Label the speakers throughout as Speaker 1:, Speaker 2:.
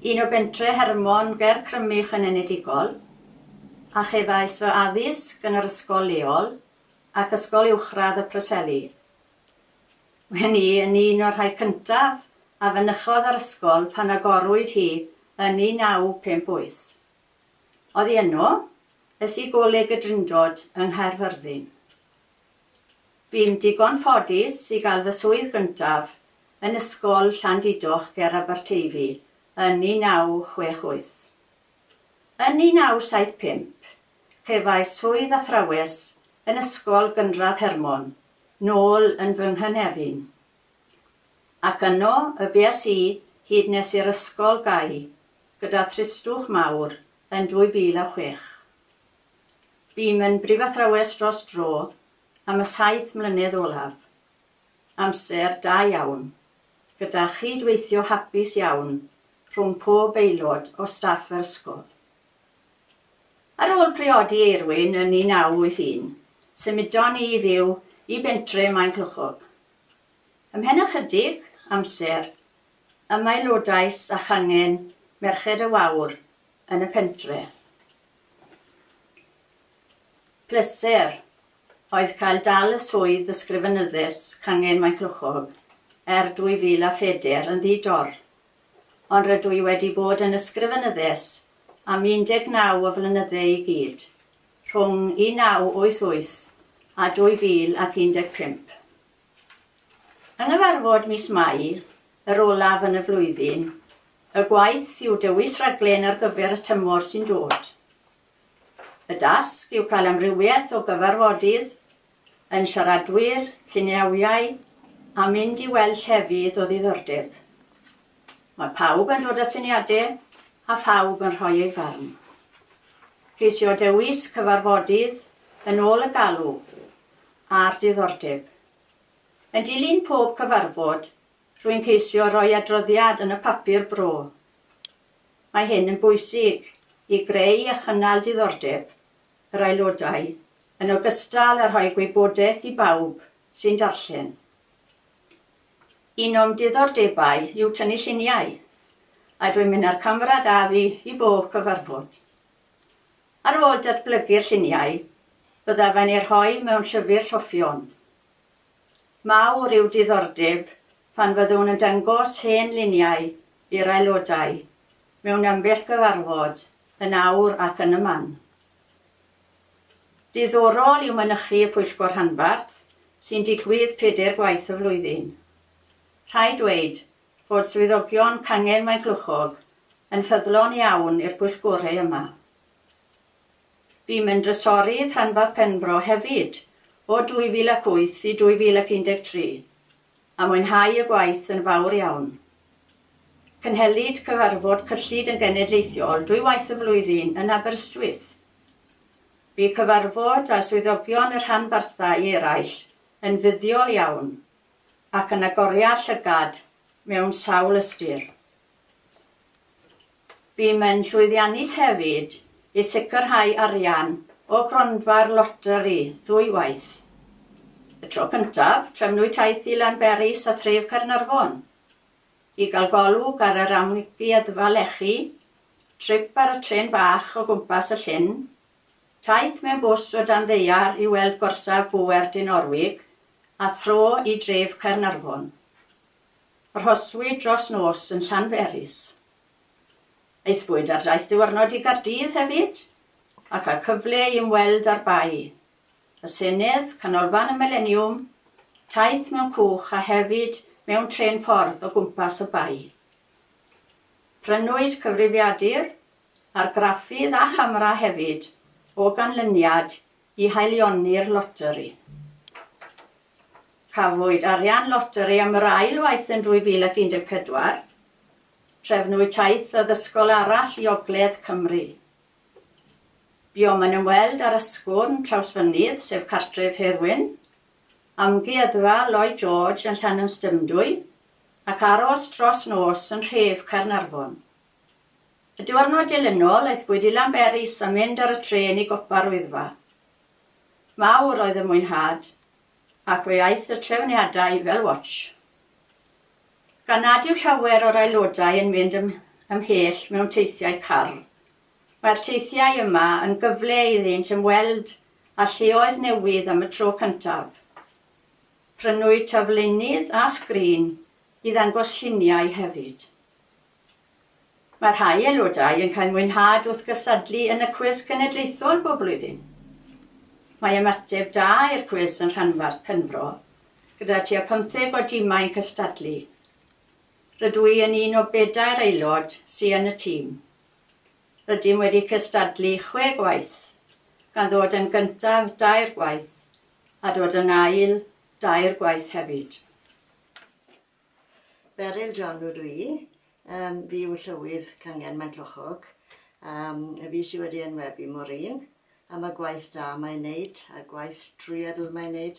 Speaker 1: Un o bentre Hermon ger Crymych yn enedigol, a chefais fy addysg yn yr ysgol leol ac Ysgol Uwchradd y Preseli. Wen i yn un o'r rhai cyntaf a fynychodd yr ysgol pan agorwyd hi yn 1958. Oddi yno, es i Goleg y Drindod yng Nghaerfyrddin. Bu'n ddigon ffodus i gael fy swydd gyntaf yn Ysgol Llandudoch ger Aberteifi yn 1968. Yn 1975, cefais swydd athrawes yn Ysgol Gynradd Hermon, nôl yn fy nghynefin. Ac yno y bues i hyd nes i'r ysgol gau gyda thristwch mawr yn 2006. Buom yn brifathrawes dros dro am y saith mlynedd olaf. Amser da iawn, gyda chyd-weithio hapus iawn rhwng pob aelod o staff yr ysgol. Ar ôl priodi Eirwyn yn 1981, symudon ni i fyw i bentre Maenclochog. Ymhen ychydig amser, ymaelodais â changen Merched y Wawr yn y pentre. Pleser oedd cael dal y swydd Ysgrifenyddus Cangen Maenclochog er 2004 yn ddi-dor, ond rydw i wedi bod yn Ysgrifenyddus am 19 o flynydde i gyd, rhwng 1988 a 2015. Yng nghyfarfod mis Mai, yr olaf yn y flwyddyn, y gwaith yw dewis rhaglen ar gyfer y tymor sy'n dod. Y dasg yw cael amrywiaeth o gyfarfodydd, yn siaradwyr, cineawiau a mynd i weld llefydd o ddiddordeb. Mae pawb yn dod â syniadau a phawb yn rhoi ei farn. Ceisio dewis cyfarfodydd yn ôl y galw a'r diddordeb. Yn dilyn pob cyfarfod, rwy'n ceisio rhoi adroddiad yn y papur bro. Mae hyn yn bwysig i greu a chynnal diddordeb yr aelodau yn ogystal â rhoi gwybodaeth i bawb sy'n darllen. Un o'm diddordebau yw tynnu lluniau, a dwi'n mynd â'r camera 'da fi i bob cyfarfod. Ar ôl datblygu'r lluniau, byddaf yn eu rhoi mewn llyfr rhoffion. Mawr yw diddordeb pan fyddwn yn dangos hen luniau i'r aelodau mewn ambell gyfarfod yn awr ac yn y man. Diddorol yw mynychu y pwyllgor rhanbarth, sy'n digwydd pedair gwaith y flwyddyn. Rhaid dweud, fod swyddogion Cangen Maeglwchog yn ffyddlon iawn i'r pwyllgorau yma. Bûm yn Drysorydd Rhanbarth Penfro hefyd o 2008 i 2013, a mwynhau y gwaith yn fawr iawn. Cynhelid cyfarfod cyllid yn genedlaethol dwy waith y flwyddyn yn Aberystwyth. Bu cyfarfod â swyddogion y rhanbarthau eraill yn fuddiol iawn. ac yn agoria llygad mewn sawl ystyr. Bûm yn llwyddiannus hefyd i sicrhau arian o gronfa'r loteri ddwy waith. Y tro cyntaf, trefnwyd taith i Lanberis a thref Caernarfon i gael golwg ar yr amgueddfa lechi, trip ar y trên bach o gwmpas y llyn Taith mewn bws o dan ddaear i weld gorsaf bŵer Dinorwig a thro i dref Caernarfon. Arhoswyd dros nos yn Llanberis. Aethpwyd ar daith diwrnod i Gaerdydd hefyd a cael cyfle i ymweld â'r Bae, y Senedd, Canolfan y Mileniwm, taith mewn cwch a hefyd mewn trên ffordd o gwmpas y Bae. Prynwyd cyfrifiadur argraffydd a chamera hefyd o ganlyniad i haelioni'r loteri. Cafwyd arian loteri am yr ail waith yn 2014, trefnwyd taith addysgol arall i Ogledd Cymru. Buom yn ymweld â'r Ysgwrn Trawsfynydd, sef cartref Hedd Wyn, Amgueddfa Lloyd George yn Llanymstymdwy ac aros dros nos yn nhref Caernarfon. Y diwrnod dilynol, aethpwyd i Lanberis a mynd ar y trên i gopa'r Wyddfa. Mawr oedd y mwynhad, ac fe aeth y trefniadau fel watsh. Gan nad yw llawer o'r aelodau yn mynd ymhell mewn teithiau Carl, mae'r teithiau yma yn gyfle iddynt ymweld â lleoedd newydd am y tro cyntaf. Prynwyd taflennydd a sgrin i ddangos lluniau hefyd. Mae rhai aelodau yn cael mwynhad wrth gystadlu yn y cwis cenedlaethol bob blwyddyn. Mae ymateb da i'r cwis yn rhanbarth Penfro, gyda tua pymtheg o dimau yn cystadlu. Rydw i yn un o bedair aelod sy yn y tîm. Rydym wedi cystadlu chwe gwaith, gan ddod yn gyntaf dair gwaith a dod yn ail dair gwaith hefyd. Beryl John ydw i. Yym, fi yw Llywydd Cyngen Maenclochog. Yym, y fi sy wedi enwebu Maureen am y gwaith da mae'n neud, a gwaith trwyadl mae'n neud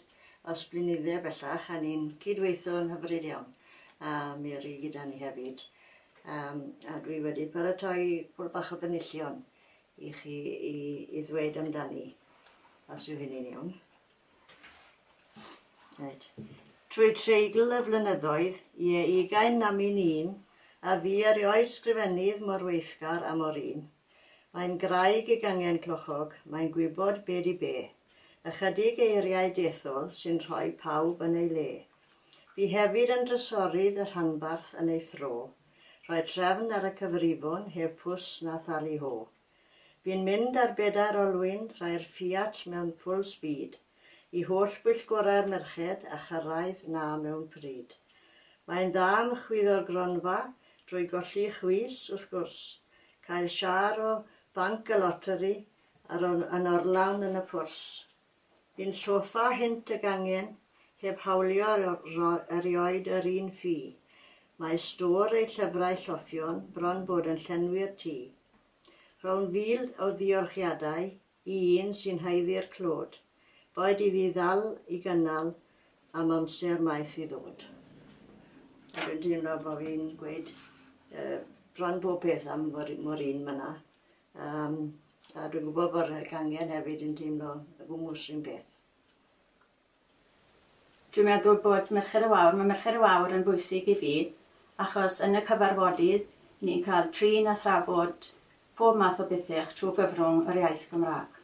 Speaker 1: os blinydde bellach, a ni'n cyd-weitho yn hyfryd iawn. A mi ry gyda ni hefyd. Yym, a dwi wedi paratoi pwl bach o fenillion i chi i, i ddweud amdani, os yw hynny'n iawn. Reit. Trwy treigl y flynyddoedd, ie, ugain na min un, a fu erioed sgrifennydd mor weithgar a Maureen. Mae'n graig i gangen clochog, mae'n gwybod be di be. Ychydig eiriau dethol sy'n rhoi pawb yn ei le. Bu hefyd yn drysorydd y rhanbarth yn ei thro. Rhoi trefn ar y cyfrifon heb fws na thali ho. Fi'n mynd ar bedair olwyn, rhai'r Fiat mewn full speed, i holl bwyllgorau'r merched a chyrraedd 'na mewn pryd. Mae'n dda am chwyddo'r gronfa, drwy golli chwys, wrth gwrs, cael siâr o fanc y loteri a'r yn orlawn yn y pwrs. Yn llofa hynt y gangen, heb hawlio erioed yr un ffi. Mae stôr ei llyfrau lloffion bron bod yn llenwi'r tŷ. Rhown fil o ddiolchiadau i un sy'n haeddu'r clod, boed i fi ddal i gynnal am amser maith i ddod. Dw i'n teimlo bod fi'n gweud bron bob peth am Maureen fan'na. Um, a dwi'n gwybod bod y gangen hefyd yn teimlo y gwmwys rhywun beth. Dwi'n meddwl bod Mercher y Wawr, mae Mercher y Wawr yn bwysig i fi, achos yn y cyfarfodydd ni'n cael trin a thrafod pob math o bethau trwy gyfrwng yr iaith Gymraeg.